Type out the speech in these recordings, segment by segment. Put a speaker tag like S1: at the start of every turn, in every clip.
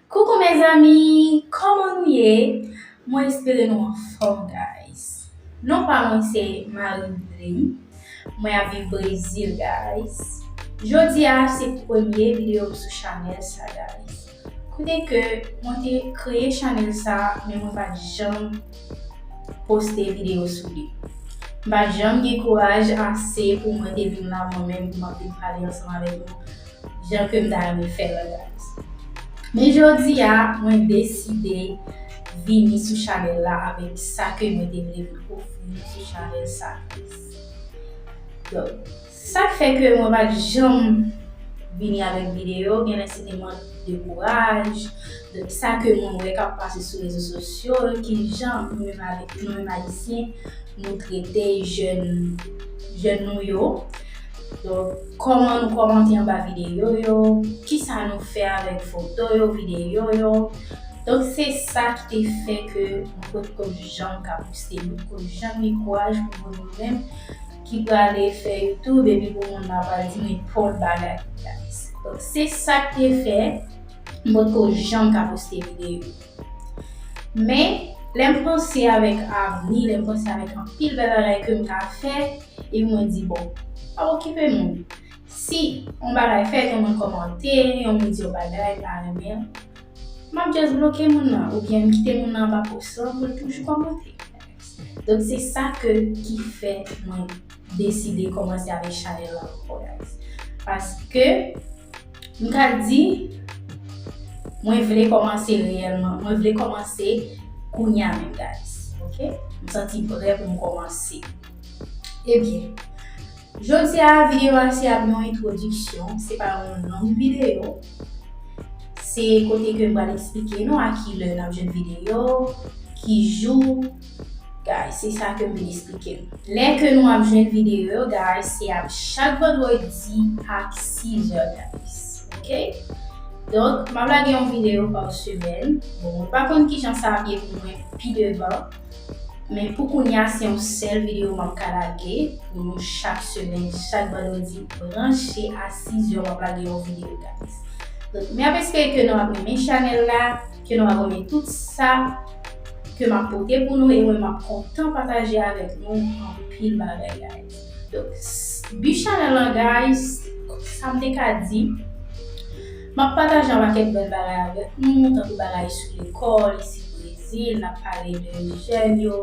S1: Coucou mes amis Koman nou ye Mwen espere nou anfòm guys Non pa mwen se Marie-Louline Mwen ap viv Brezil guys Jodi a se premye video m sou chanèl sa guys Kote ke mwen te kreye chanèl sa men mwen pat janm poste video sou li M pat janm gen kouraj ase pou mwen te vin la mwen menm pou m ap vin pale ansanm avèk nou jan kem ta renmen fèl an gratis. Men jodia mwen deside vini sou chanèl la avèk sa ke mwen te vle vin ofri nou sou chanèl sa plis. Donk, se sak fè ke mwen pat janm vini avèk videyo, genlè se te mank de kouraj, de sa ke mwen wè kap pase sou rezo sosyo, ki jan nou menm avèk nou menm ayisyen nou trete jèn nou yo. Donk, kòman nou kòmante anba videyo yo, kisa nou fè avèk foto yo, videyo yo. Donk, se sa ki te fè ke mwen pot konn janm ka poste, m pot konn janm gen kouraj pou mwen menm menm ki prale fè youtube epi pou moun la pral di m nenpòt bagay ki gratis. Donk, se sa ki te fè m pot ko janm ka poste videyo. Men, lè m panse avèk avni, lè m panse avèk anpil bèl bagay ke m ka fè, epi mwen di bon, pa okipe moun. Si yon bagay fèt, yon moun kòmante, yon moun di yon bagay m pa renmen an, m ap just bloke moun nan oubyen m kite moun nan anba pòs lan pou l toujou kòmante. Donk se sa ke, ki fè mwen. deside komanse avek chanel lan anko guys paske m ka di mwen vle komanse reyelman mwen vle komanse kounya menm guys ok m santi pre pou m komanse ebyen jodi a video a se ap yon introduction se pa yon long video se kote ke m pral esplike nou a kilè n ap jwenn video ki jou Guys se sa kem vin esplike nou. Lè ke nou ap jwenn video yo guys se ap chak vendredi ak 6 heures guys ok donk map lage yon video par semaine bon mwen pa konn kijan sa ap ye pou mwen pi devan men pou kounya se yon sèl video map ka lage pou nou chak semaine chak vendredi branche a 6 heures map lage yon video guys donk map espere ke nou ap renmen chanèl la. Ke nou abòne tout sa ke map pote pou nou e mwen map kontan pataje avèk nou anpil bagay guys. Donk bi chanèl lan guys sam te ka di map pataje yon pakèt bèl bagay avèk nou tankou bagay sou lekòl isit brezil nap pale de jèn yo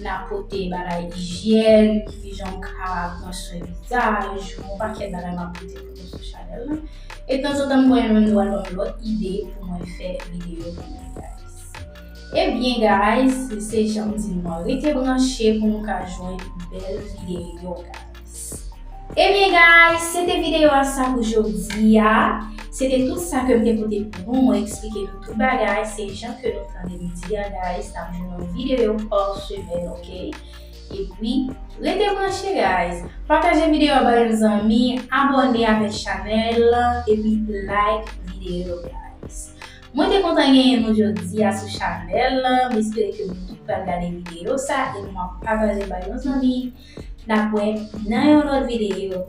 S1: nap pote bagay ijyèn kijan ou ka pran swen vizaj yon pakèt bagay map pote pou nou. Abòne sou chanèl la e tanzantan m voye yon dwal banm lòt ide pou mwen fè videyo pou nou guys. Ebyen guys se janm di nou an rete branche pou nou ka jwenn bèl videyo guys. Ebyen guys se te videyo a sa pou jodi a. Se te tout sa ke m te pote pou nou mwen eksplike nou tout bagay se jan ke nou tande m di a guys nap jwenn yon videyo pa semèn ok. Epi, rete branche guys! Pataje video a ba yon zanmi, abone avek chanel la epi like video guys! Mwen te kontan genyen nou jodi a sou chanel la, m espere ke nou tout pral gade video sa e nou ap pataje ba yon zanmi. N ap wè nan yon lot video.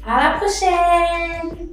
S1: A la prochèn!